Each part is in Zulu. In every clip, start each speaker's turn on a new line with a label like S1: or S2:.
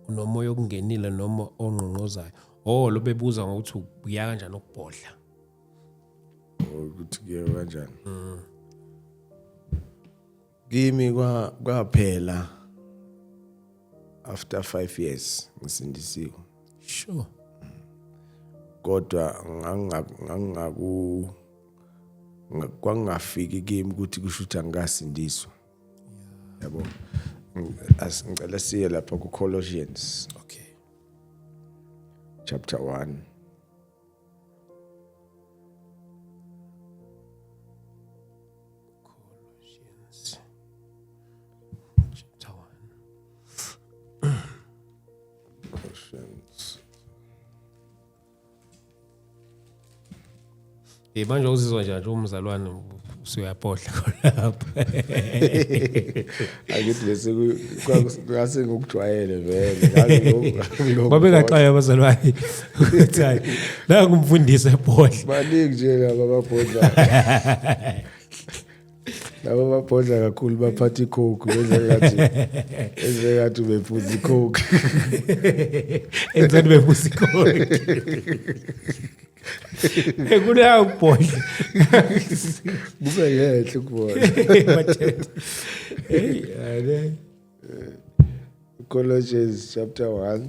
S1: unomoya okungenile noma ongqongqozayo oh lo bebuza ngokuthi ubuya kanjani ukubhodla ukuthi
S2: ke kanjani mm. kimi kwaphela after 5 years ngisindisiwe sure
S1: kodwa
S2: ngangingaku kwakungafiki kimi ukuthi kusho ukuthi angikasindiswa yabo ngicela siye lapha ku-colossians okay
S1: chapter
S2: 1
S1: Eh manje uzizwa njani umzalwane usuyapohla lapha.
S2: Angithi lesi kwase ngokujwayele vele. Babekaxaya
S1: abazalwane. Uthi hayi la kumfundisa epohla. Baningi nje laba
S2: babhodla. labo babhodla kakhulu baphatha icoke benzengathi enzengathi ubephuza icoke enzengathi
S1: ubephuza icoke ekunayo ukubhodla
S2: kube ngehle ukubona hey Colossians chapter 1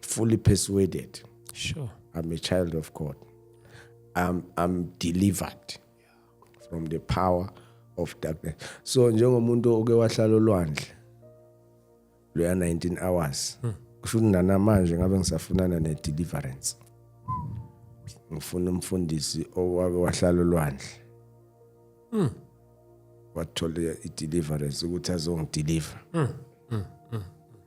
S2: fully persuaded sure i'm
S1: a child of
S2: god i'm i'm delivered from the power of darkness so njengomuntu oke wahlala olwandle loya 19 hours hmm. kusho ukuthi nanamanje ngabe ngisafunana ne deliverance ngifuna umfundisi owake wahlala olwandle mm wathola i-deliverance ukuthi azongideliver mm.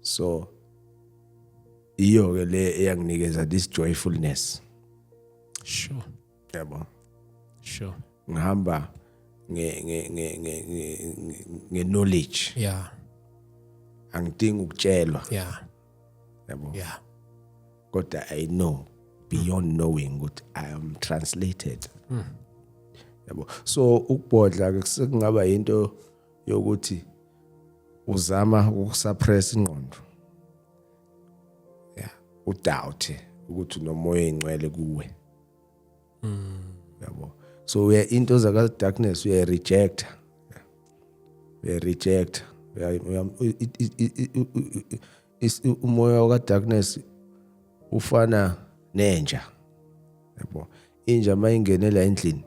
S2: so iyo ke le eyanginikeza this joyfulness
S1: sure yabo sure ngihamba
S2: nge nge nge nge nge knowledge yeah angidingi ukutshelwa yeah
S1: yabo yeah kodwa
S2: i know beyond knowing ukuthi i am translated mm. yabo so ukubhodla ke sekungaba into yokuthi uzama ukusuppress ingqondo yeah udoubt ukuthi nomoya ingcwele kuwe mm yabo so uya into zaka darkness uya reject uya reject umoya waka darkness ufana nenja yabo inja mayingenela endlini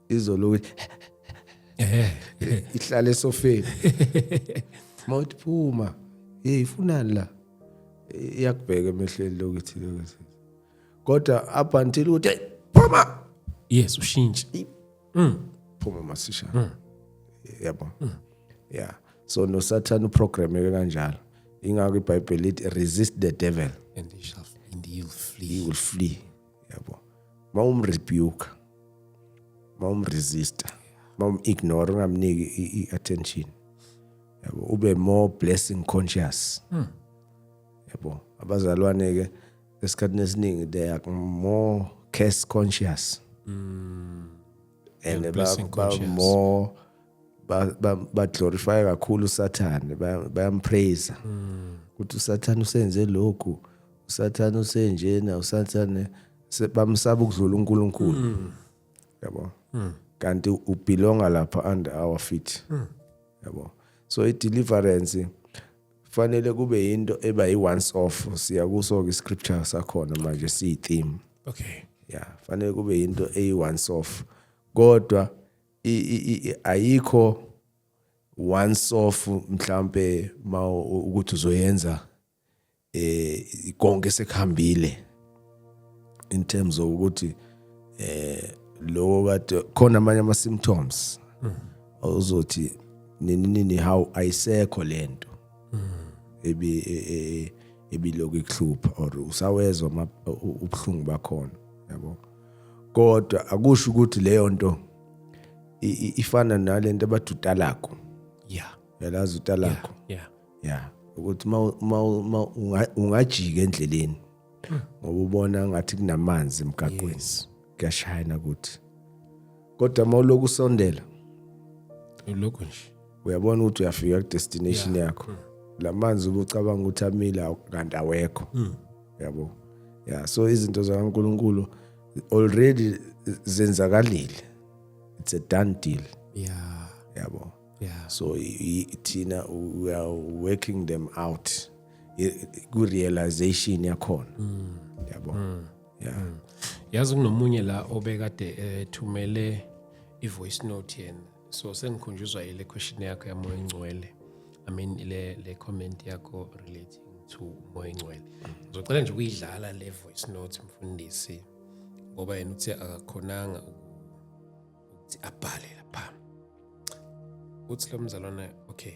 S2: izolo ukuthi eh ihlala esofeni mawuthi phuma hey ifunani la iyakubheka emehlweni lokuthi lokuthi kodwa up until ukuthi phuma yes ushintshe
S1: mm phuma
S2: masisha mm. yabo mm. yeah so no satan uprogram yeke kanjalo ingakho ibhayibheli lithi resist the devil and he shall and
S1: he will flee he will flee
S2: yabo uma umrebuke uma umresista uma umignore ungamniki i-attention yabo ube more blessing conscious hmm. yabo abazalwane ke esikhathini esiningi they are more curse conscious mm. and yeah, ba,
S1: ba more
S2: baglorifya kakhulu usathane bayampraise mm. ukuthi usathane usenze lokhu usathane usenjena usathane bamsaba ukudlula uNkulunkulu mm. yabo mm. kanti ubelonga lapha under our feet mm. yabo so i deliverance fanele kube yinto eba yi once off siya kuso ke scripture sakhona manje si theme okay yeah
S1: fanele
S2: kube yinto eyi once off kodwa ayikho once off mhlambe ma ukuthi uzoyenza eh konke sekuhambile in terms of ukuthi eh lokho kade khona amanye ama symptoms ozothi nini nini how ayisekho lento ebi e, e, ebilokhu ikuhlupha or usawezwa ubuhlungu bakhona yabo kodwa akusho ukuthi leyo nto ifana nalento abadutalako yeah
S1: yalazi utalako
S2: yeah yeah
S1: ukuthi
S2: uma ungajika endleleni hmm. ngoba ubona ngathi kunamanzi emgaqweni kuyashayana ukuthi kodwa uma uloku usondela
S1: ulokhu nje uyabona ukuthi uyafika
S2: ku-destination yakho hmm. la manzi ubucabanga ukuthi amile kanti awekho hmm. yabo ya so izinto zakaNkuluNkulu already zenzakalile it's a done deal yeah
S1: yabo
S2: yeah so thina we are working them out ku realization yakhona mm. yabo mm. yeah mm. yazi
S1: kunomunye la obekade ethumele eh, i voice note yena so sengikhunjuzwa ile question yakho yamoya ingcwele i mean le le comment yakho relating to umoya ingcwele ngizocela nje ukuyidlala le voice note mfundisi ngoba yena uthi akakhonanga ukuthi abhale lapha uthi lo mzalwana okay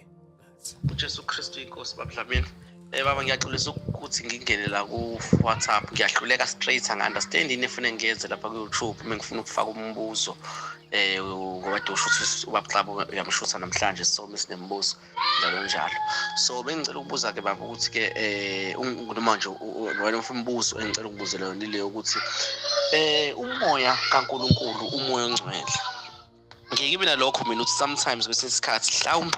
S1: uJesu
S3: Kristu inkosi babudlamini Eh baba ngiyaxolisa ukuthi ngingene la ku WhatsApp ngiyahluleka straight anga understand ini efuna ngiyenze lapha ku YouTube uma ngifuna ukufaka umbuzo eh ngoba dosho ukuthi ubabxabo uyamshutha namhlanje so misinembuzo njalo njalo so bengicela ukubuza ke baba ukuthi ke eh noma nje wena ufuna umbuzo engicela ukubuzela yona ile ukuthi eh umoya kaNkuluNkulu umoya ongcwele ngeke ibe nalokho mina ukuthi sometimes kwesinye isikhathi mhlawumbe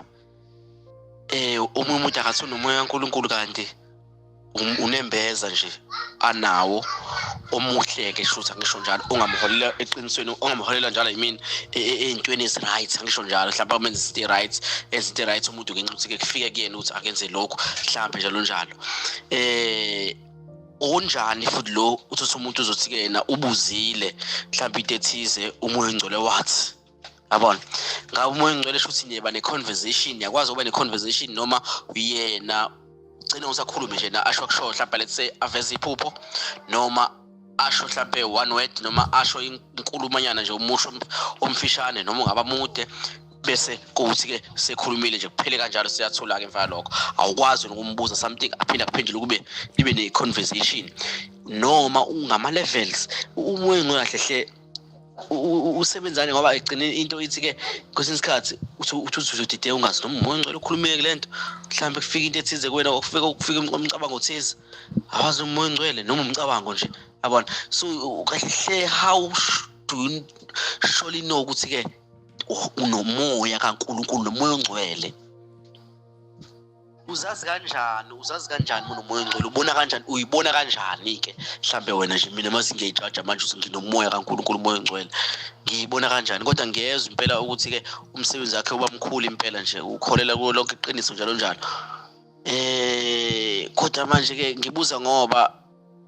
S3: eh omunye umuntu akathi unomoya kaNkulunkulu kanti um, unembeza nje anawo omuhle ke shutha ngisho njalo ungamholela eqinisweni ungamholela njalo i mean e, e, ezintweni ezi right ngisho njalo mhlawumbe umenza izinto right ezinto right umuntu ngenxa ukuthi ke kufike kuyena ukuthi akenze lokho mhlawumbe njalo njalo eh unjani futhi lo uthatha umuntu uzothi ke yena ubuzile mhlawumbe into ethize umoya ongcole wathi yabona ngabe umoya ongcole shuthi niyeba ne-conversation yakwazi ukuba ne-conversation noma uyena ugcine usakhulume nje na asho kushoyo mhlawumbe let's say aveze iphupho noma asho mhlampe one word noma asho inkulumanyana nje umusho omfishane noma ungaba mude bese kuthi ke sekhulumile nje kuphele kanjalo siyathula ke mfana lokho awukwazi nokumbuza something aphinde akuphendule kube ibe ne conversation noma ungama levels uma engahle hle usebenzane ngoba egcine into ithi ke kwesinye isikhathi uthi uthi uzodide ungazi noma umoya ngicela ukhulumeke lento mhlawumbe kufika into ethize kuwena okufika ukufika umcabango othize awazi umoya ngcwele noma umcabango nje yabona so kahle how do you surely know ukuthi ke unomoya kaNkulunkulu nomoya ongcwele uzazi kanjani uzazi kanjani mina umoya ongcwele ubona kanjani uyibona kanjani ke mhlambe wena nje mina mase ngiyayijaja manje ukuthi nginomoya kaNkulunkulu umoya ongcwele ngiyibona kanjani kodwa ngiyezwa impela ukuthi ke umsebenzi wakhe uba mkhulu impela nje ukholela kulo lonke iqiniso njalo njalo eh kodwa manje ke ngibuza ngoba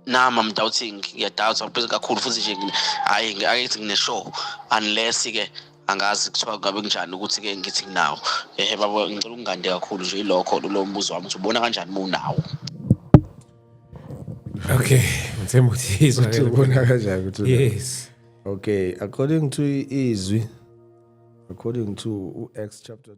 S3: nam am doubting ngiyadoubt ngiphezu kakhulu futhi nje hhayi akethi ngine-show unless-ke angazi kuthiwa ngabe kunjani ukuthi-ke ngithi nginawo ehe babo ngicela ukungande kakhulu nje ilokho lo mbuzo wami ukuthi ubona kanjani uma unawo
S1: okay ngithemba ukuthi izwa ubona kanjani ukuthi
S2: yes
S1: okay
S2: according to izwi according to u-acts chapter 2